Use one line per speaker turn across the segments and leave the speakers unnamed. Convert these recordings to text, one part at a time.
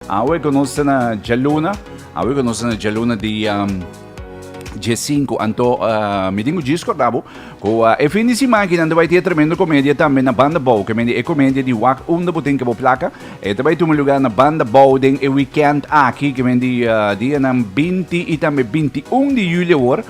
Awe cu nos ta na djaluna, awe cu nos ta na djaluna di djecinku, anto mi tin cu djis cordabo cu e fin di simakinan ta bai tin e tremendo comedia tambe na Banda Bou, ke mende e comedia di wak unda bo tin ke bo plaka, e ta bai tuma lugar na Banda Bou den e weekend aki, ke mende di dianan binti y tambe binti un di julio awor,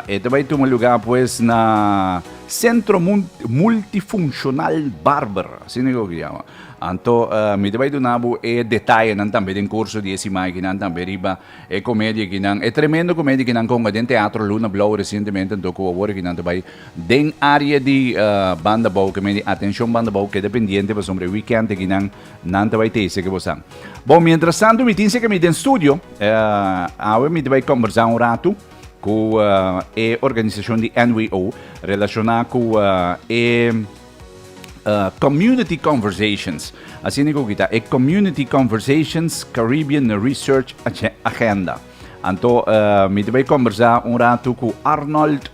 e ta bai tuma lugar pues na Centro Multifuncional Barber, asina e lo ke yama. Anto mi ta bai duna bo e detayenan tambe den kurso di e simakinan tambe riba e komedia kinan, e tremendo komedia kinan konga den Teatro Luna Blou resientemente anto ku awor kinan ta bai den área di Banda Bou ke medi atenshon Banda Bou keda pendiente pasobra e wikènt akinan nan ta bai tese ke bo sa. Bon mientrastantu mi tin sek ami den studio awe mi ta bai kombersá un ratu ku e organisashon di NWO relashoná ku e Community Conversations, asina e koki ta, e Community Conversations Caribbean Research Agenda. Anto mi ta bai kombersá un ratu ku Arnold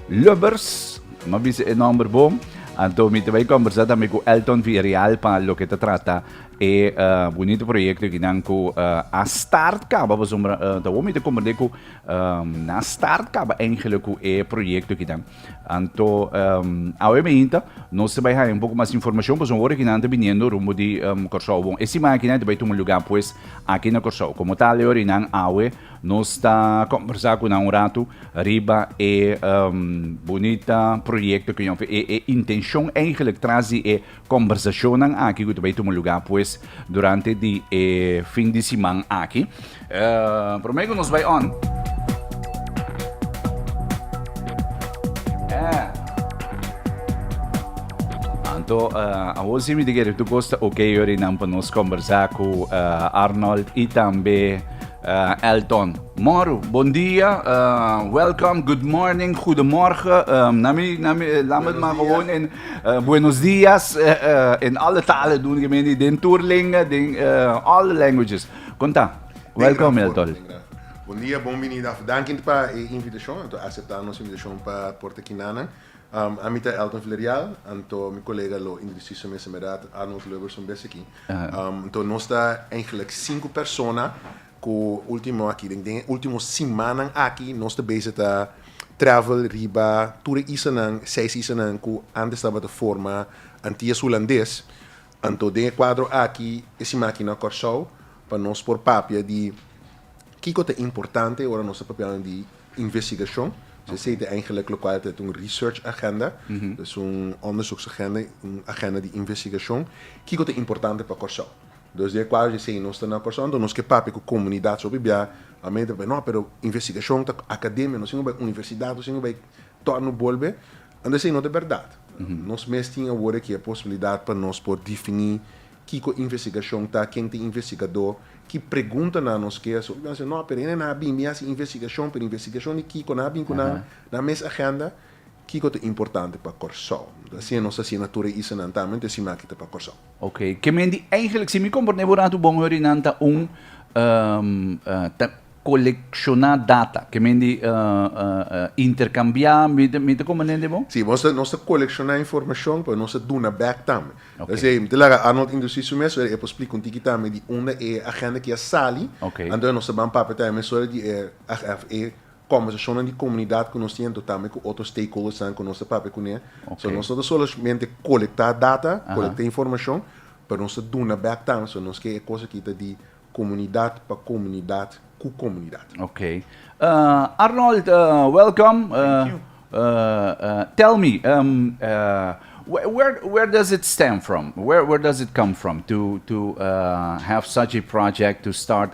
Lubbers, mi a bisa e nòmber bo, anto mi ta bai kombersá tambe ku Elton Villareal pa loke ta trata e bunito proyekto e kinan ku a start kaba, pasobra ta awor mi ta komprendé ku nan a start kaba Angelo ku e proyekto kinan. Anto awe mainta nos ta bai haña un poko mas informashon pasobra ora kinan ta biniendo rumbo di Kòrsou bon e siman akinan ta bai tuma lugá pues aki na Kòrsou. Komo ta ale ora nan awe nos ta kòmbersá ku nan un ratu riba e bunita proyekto ku e intenshon eigelik tras di e Kombersacionnan aki cu ta bay tuma lugar pues durante di e fin di siman aki. Prome cu nos bay on. Anto awor si mi ta kere tur cos ta ok yori nan pa nos kombersa cu Arnold y tambe Elton. Moro, bon dia, welcome, good morning, goedemorgen, na mi, na mi, laat me het maar gewoon in Buenos dias in alle talen dun ke meni den tur lenga den all the languages kon ta? Welcome el tol. Bon dia bon binida of danki pa e invitashon anto asepta nos invitashon pa por ta kina nan a mi ta Elton Villarreal anto mi kolega lo indrisiso mester mi rat Arnold Lubberson bes aki anto nos ta eigenlijk sinku persona Ku ultimo aki, den e ultimo simannan aki nos ta bese ta travel riba tur e isanan, seis isanan ku antes tabata forma Antillas Hulandes. Anto den e kuadro aki e siman aki na Kòrsou pa nos por papia di kiko ta importante ora nos ta papiando di investigashon. Sesei ta eigenlik lokual ta un research agenda, ta un onderzoeksagenda, un agenda di investigashon. Kiko ta importante pa Kòrsou? Dos di e kuadro di esei nos ta na Kòrsou, anto nos ke papia ku komunidat so biba. Amei ta papia, no, pero investigashon ta akademia, nos tin ku bai universidat, nos tin ku bai tòrnu bolbe. Anto esei no ta bèrdat. Nos mes tin awor aki e posibilidat pa nos por difiní kiko investigashon ta, ken ta e investigadó, ki preguntanan nos ke haci. Hopi nan ta bisa, no, pero e nan a bin, bin hasi investigashon, pero investigashon di kiko? Nan a bin ku nan nan mes agenda? Kiko ta importante pa Kòrsou? Anto asina nos ta hasié na tur e isanan tambe, anto e siman aki ta pa Kòrsou. Ok, ke men di eigenlijk, si mi komprende bo ratu, bon heurinan ta un um, uh, ta kolekshoná data, ke men di uh, uh, uh, interkambiá, mi ta, mi ta komprende bo? Si, nos ta, nos ta kolekshoná informashon pa nos ta duna bèk tambe. Ok. P'esei, mi ta laga Arnold introdusí su mes, zodat e por splika un tiki tambe di unda e agenda kia sali, Ok. anto nos ta ban papia tambe, zodat di e, ag- af- e conversacionnan di comunidad cu nos tin, tambe cu otro stakeholdersnan cu nos ta papia cun'e. Okay. So, nos no ta solamente colecta data, colecta informacion, pero nos ta duna back tambe. So, nos ke e cos aki ta di comunidad pa comunidad cu comunidad. Okay. Uh, Arnold, uh, welcome. Uh, Thank you. Uh, uh, tell me, um, uh, where where does it stem from? Where where does it come from to to uh, have such a project to start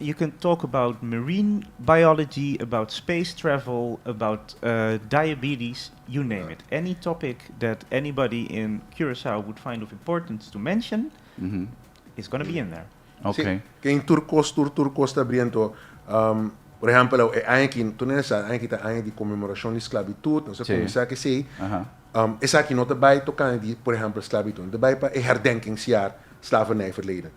You can talk about marine biology, about space travel, about diabetes, you name it. Any topic that anybody in Curaçao would find of importance to mention, it's gonna be in there. Si, ken tur kos, tur tur kos ta bri anto. Por ehempel, e aña aki, tur nesesari, e aña aki ta aña di conmemoracion di sclavitud, nos a cuminsa cu esey. Esaki no ta bay tocante di, por ehempel, sclavitud, no ta bay pa e herdenkingsjaar slavernijverleden.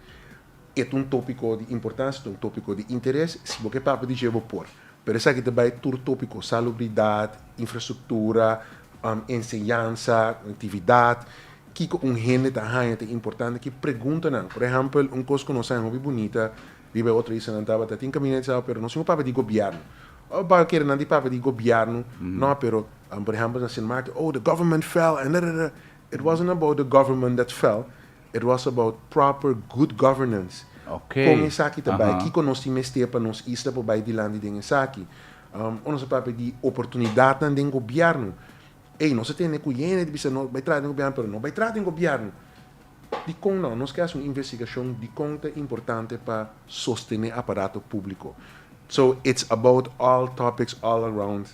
E ta un tópiko di importansia, ta un tópiko di interes. Si bo ke papia di dje, bo por. Pero esaki ta bai tur tópiko, salubridat, infrastruktura, enseñansa, konektividat, kiko un hende ta haña ta importante, ki preguntanan. Por ehèmpel, un kos ku nos haña hopi bunita riba e otro isla, nan tabata, tin kaminda di Sao pero nos tin ku papia di gobièrnu. Ò bo a kere nan di papia di gobièrnu, nò, pero, por ehèmpel, nan siña mati, oh, the government fell, and, da, da, da. It wasn't about the government that fell, It was about proper good governance. Kon esaki ta bai? Kiko nos tin mester pa nos isla por bai dilanti den esaki? Ora nos a papia di oportunidatnan den gobièrnu, ey, nos a tende ku hende ta bisa nos bai traha den gobièrnu pero no bai traha den gobièrnu. Dikon nau? Nos ke hasi un investigashon dikon ta importante pa sostené aparato públiko. So, it's about all topics all around.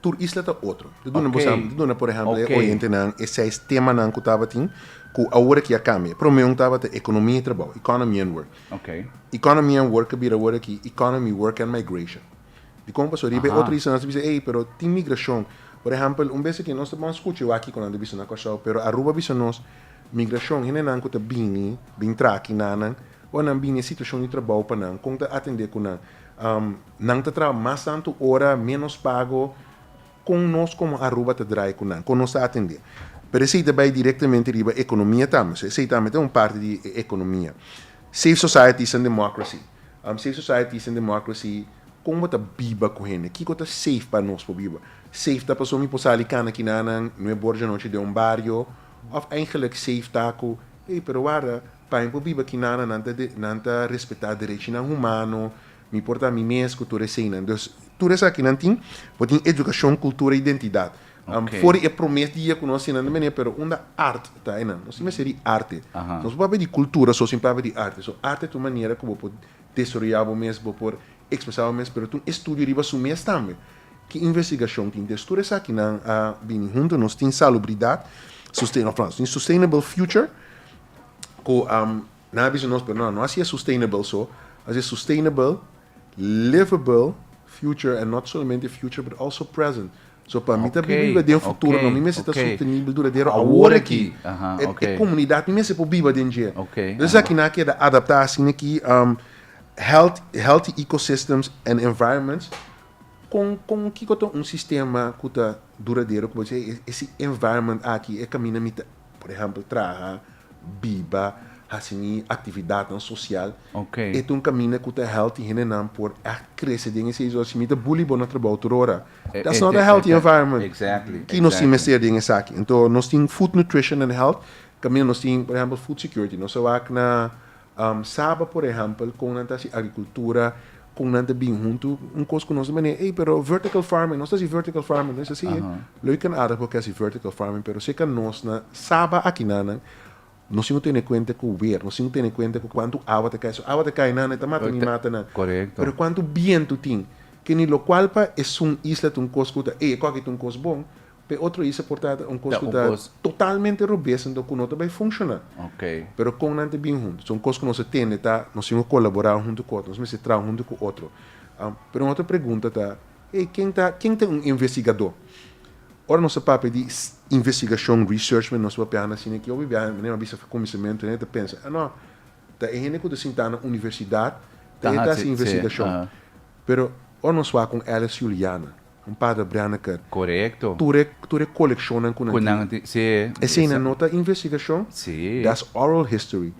tur isla ta otro. Di duna boso di duna por ehempel e oyentenan e seis temanan ku tabatin ku awor aki a kambia. Promé un tabata ekonomia i trabou, economy and work. Economy and work a bira awor aki economy, work and migration. Dikon pasó? Riba e otro isla nos ta bisa ey pero tin migrashon. Por ehempel un bes aki nos ta bon skucha ewaki ku nan ta bisa na Kòrsou pero Aruba a bisa nos migrashon hendenan ku ta bini bin tra aki nanan o nan bini e situashon di trabou pa nan kon ta atendé ku nan. Nan ta traha mas tantu ora, ménos pago. Kon nos komo Aruba ta drai ku nan? Kon nos ta atendé? Pero esei ta bai direktamente riba ekonomia tambe. So esei tambe ta un parti di e ekonomia. Safe Societies and Democracy, Safe Societies and Democracy, kon bo ta biba ku hende? Kiko ta safe pa nos por biba? Safe ta paso mi por sali kana kinanan nue bor dianochi den un bario? Òf eingelik safe ta ku, ey, pero warda, pa mi por biba kinanan nan ta nan ta respetá derechinan humano, Mi por ta mi mes cu tur eseinan. Dus, tur esaki nan tin, bo tin educacion, cultura, identidad. Am, for di e promes dia cu nos sinan den beney, pero unda art ta ei nan? Nos tin mester di arte. Nos por papia di cultura so sin papia di arte. So, arte ta un manera cu bo por desaroya bo mes, bo por expresa bo mes, pero ta un estudio riba su mes tambe. Ki investigacion tin? Dus, tur esaki nan a bini hunto. Nos tin salubridad, susten, of, nos tin sustainable future, cu, am, Nan a bisa nos, pero no, no hasié sustainable so, hasié sustainable, livable future and not solamente future but also present. So pa mi ta biba biba den futuro no, mi mester ta sostenible duradero awor aki. E comunidad mi mester por biba den dje. Entonces esaki nan a keda adapta asina aki, health, healthy ecosystems and environments, con, con kico ta un sistema cu ta duradero cu bo dice hey, e, e si environment aki e caminda mi ta. Por ehempel traha, biba, hasi mi actividadnan social. Ok. E ta un caminda cu ta help di hendenan por echt crece den esey. So si mi ta bully bo na trabao tur ora, that's not a healthy environment. Exactly. Ki nos tin mester den esaki? Anto nos tin food nutrition and health, caminda nos tin, por ehempel, food security. Nos a wak na Saba por ehèmpel kon nan ta hasi agrikultura, kon nan ta bin huntu, un kos ku nos ta manera ey pero vertical farming, nos ta hasi vertical farming, no es asi e? Lo e kan aardig por ke hasi vertical farming pero si e ka nos na saba akinan nan nos tin ku tene kuenta ku wer, nos tin ku tene kuenta ku kuantu awa ta kai, si awa ta kai nan e ta mata mi, mata nan, pero kuantu bientu tin, kende lokual pa esun isla ta un kos ku ta ey e kòke ta un kos bon, P'e otro hisa por tabata un cos cu ta totalmente robes anto cu no ta bay funciona. Pero con nan ta bin hunto? So un cos cu nos a tende ta nos tin cu colabora un hunto cu otro, nos mester traha un hunto cu otro. Pero un otro pregunta ta, Hey, ken ta ken ta un investigado? Ora nos a papia di investigacion, research, nos ta papia na sina ki obi biaha manera a bisa cuminsamentu nan e ta pensa, ah no, ta e hende cu ta sinta na universidad ta e ta haci investigacion. Pero ora nos wak con Alice Juliana, Un Padre Branaker. Korekto. Tur e tur e kolekshonnan ku nan tin. Ku nan tin, si. Eseinan no ta investigashon. Si. Dats oral history.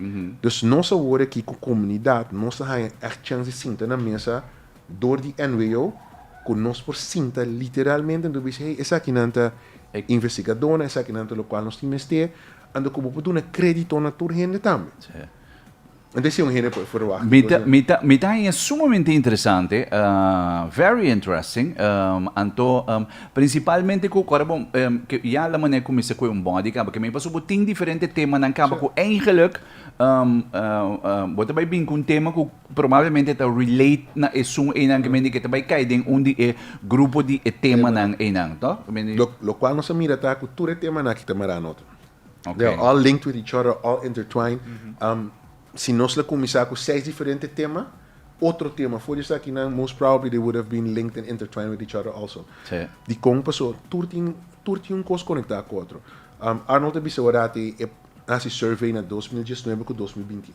Dus nos awor aki ku komunidat nos ta haña ègt chans di sinta na mesa dor di NWO ku nos por sinta literalmente anto bisha hey esaki nan ta investigadónan, esaki nan ta lokual nos tin mester, anto ku bo por duna krédito na tur hende tambe. Mi ta haña sumamente interesante, very interesting, anto principalmente cu ora bo ya la manera cu mi sa cu un body caba cu mi pasobra bo tin diferente temanan caba cu eigenlijk bo ta bay bini cu un tema cu probablemente ta relate na esun eynan cu mindi ta bay cay den un di e grupo di e temanan eynan, toh? Lo cual nos a mira ta cu tur e temanan aki ta mara na otro. They are all linked with each other, all intertwined. Mm -hmm. um, si nos la cominsá cu seis diferente tema, otro tema, voor je aquí, nan, most probably they would have been linked and intertwined with each other also. Sí. Di con pasó, tur tin, tur tin un cos conectá cu otro. Um, Arnold te bisa orati, e haci survey na 2019 cu 2021.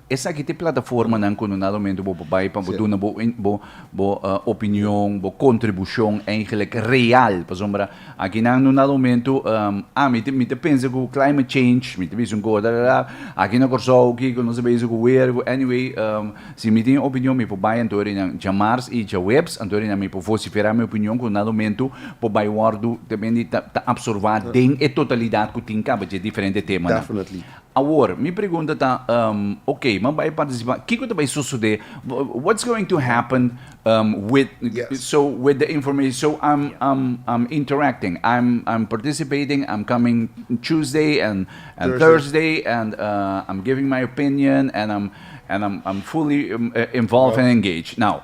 Esaki ta e plataformanan ku no na lomentu bo por bai pa bo duna bo bo bo opinion, bo kontribushon eigelik real. Pasobra akinan no na lomentu a mi ta mi ta pensa ku climate change mi ta bisa un kos dadadada aki na Kòrsou kiko nos ta basic ku wer ku anyway si mi tin e opinion mi por bai anto arinan djamars i djaweps anto arinan mi por vosifera mi opinion ku na lomentu por bai wòrdu ta ta absorbá den e totalidat ku tin kaba dje diferente temanan. Awor, mi pregunta ta, um, ok, mi a bai participa, kiko ta bai sosode? What's going to happen um, with, yes. so, with the information? So, I'm, I'm, I'm interacting, I'm, I'm participating, I'm coming Tuesday and, and Thursday. Thursday, and uh, I'm giving my opinion, and I'm, and I'm, I'm fully um, uh, involved well. and engaged. Now,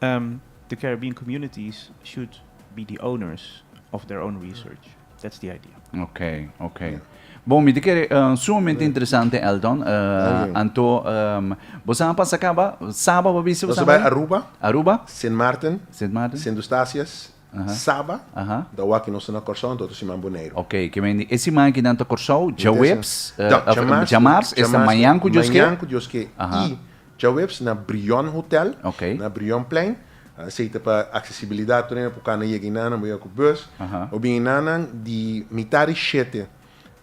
The Caribbean communities should be the owners of their own research. That's the idea. Ok, ok. Bon, mi ta kere sumamente interesante, Elton. Anto, bo sa a pasa caba? Saba bo a bisa? Nos a bai Aruba. Aruba. Sint Maarten. Sint Maarten. Sint Eustatius. Saba, ta wak nos ta na Kòrsou, anto ta siman Boneiru. Ok, ke men di e siman aki nan ta Kòrsou, djaweps, djamars, esta mañan ku Dios ke. Mañan ku Dios ke i djaweps na Brion Hotel, na Brion Plein, esei ta pa aksesibilidat tur nan por kanda yega einan, nan por yega ku bùs, bo bin einan nan di mitá di shete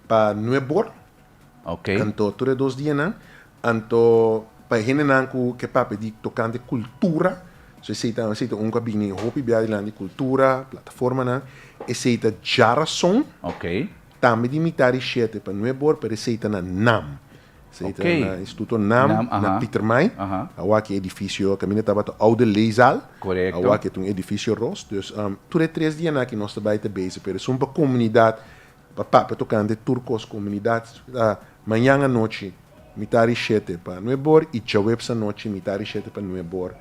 pa nuebor. Ok. Anto tur e dos dianan, anto pa e hendenan ku ke papia di tokante kultura, so esei ta esei ta un ku a bini hopi bia riba di kultura, plataformanan, esei ta djarason. Ok. Tambe di mitá di shete pa nuep bor, pero esei ta na nam. Esei ta na Instituto nam, Nam, aha. na Pietermaai. Aha. Awa ki edifisio kaminda tabata Oude Leeszaal. Korekto. Awa ke ta un edifisio ros. Dus tur e tres dianan aki nos ta bai ta bezig, pero esun pa komunidat Pa papia tocante tur cos comunidad, ta mañan anochi mitad di shete pa nuebe or y djaweps anochi mitad di shete pa nuebe or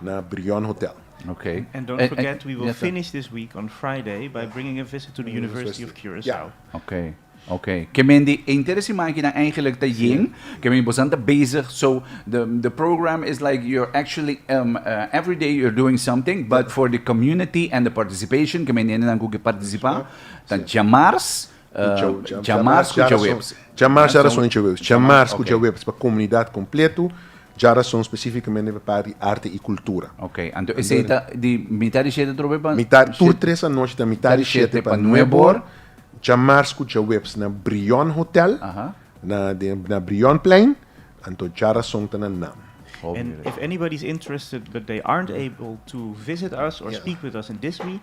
na Brion Hotel. Okay. And, and don't and, forget, and, we will yes, finish this week on Friday by bringing a visit to the University of Curacao. Yeah. Okay. Okay. Ke men di enter si makinan eigenlijk ta yin, ke men bosan ta bezig. So the the program is like you're actually um, uh, every day you're doing something, but for the community and the participation, ke men nenan ku ke participa. Ta djamars ku djawebs. Djamars ku djawebs. Djamars dja rason i djawebs. Djamars ku djawebs pa komunidat kompletu, dja rason spesifikamende pa part di arte i kultura. Ok, anto esei ta di mitar di shete trobe pa. Mitar, tur tres anochi ta mitar di shete pa nueb or, djamars ku djawebs na Brion Hotel, na den na Brion Plein, anto dja rason ta na nam. And if anybody is interested but they aren't able to visit us or speak with us in this week,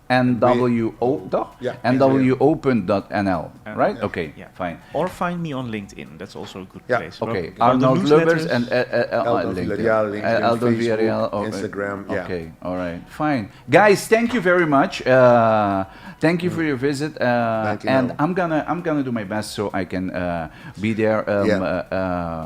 NWO toch? Ja, NWO. NWO.nl, right? Ja. Oké, Ja. fijn. Or find me on LinkedIn, that's also a good Ja. place. Oké, Wel, de Arnold Lubbers en newsletters- eh, eh, Eldon LinkedIn. Villarreal, LinkedIn, Eldon Facebook, Villarreal, oh, eh, Instagram, ja. Oké, alright, fijn. Guys, thank you very much. Eh, thank you for your visit, eh, Dankjewel. and I'm gonna, I'm gonna do my best so I can, eh, be there, um, Ja. eh, eh,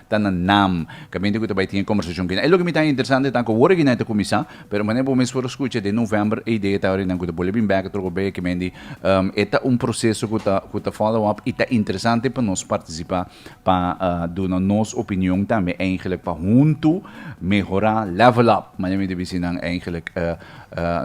ta na nam caminda cu ta bay tin e conversacion kina. E loke mi ta interesante ta cu wor aki nan e ta cuminsa, pero manera bo mes por scucha den november e idea ta orinan cu ta bolebin bek troco bay aki mendi. E ta un proceso cu ta cu ta follow up y ta interesante pa nos participa pa duna nos opinion tambe eigenlijk pa hunto mehora, level up, manera mi ta bici nan eigenlijk.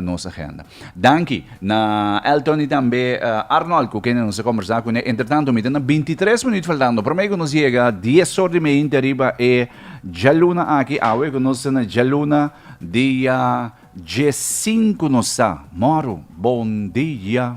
nos agenda. Danki na Elton y tambe Arnold cu kende nos a combersa cu ne. Entretanto mi ta na bintitres minuut faltando prome cu nos yega dies or di meinte riba e djaluna aki. Awe cu nos ta na djaluna dia djessinku nos ta. Moro bon dia.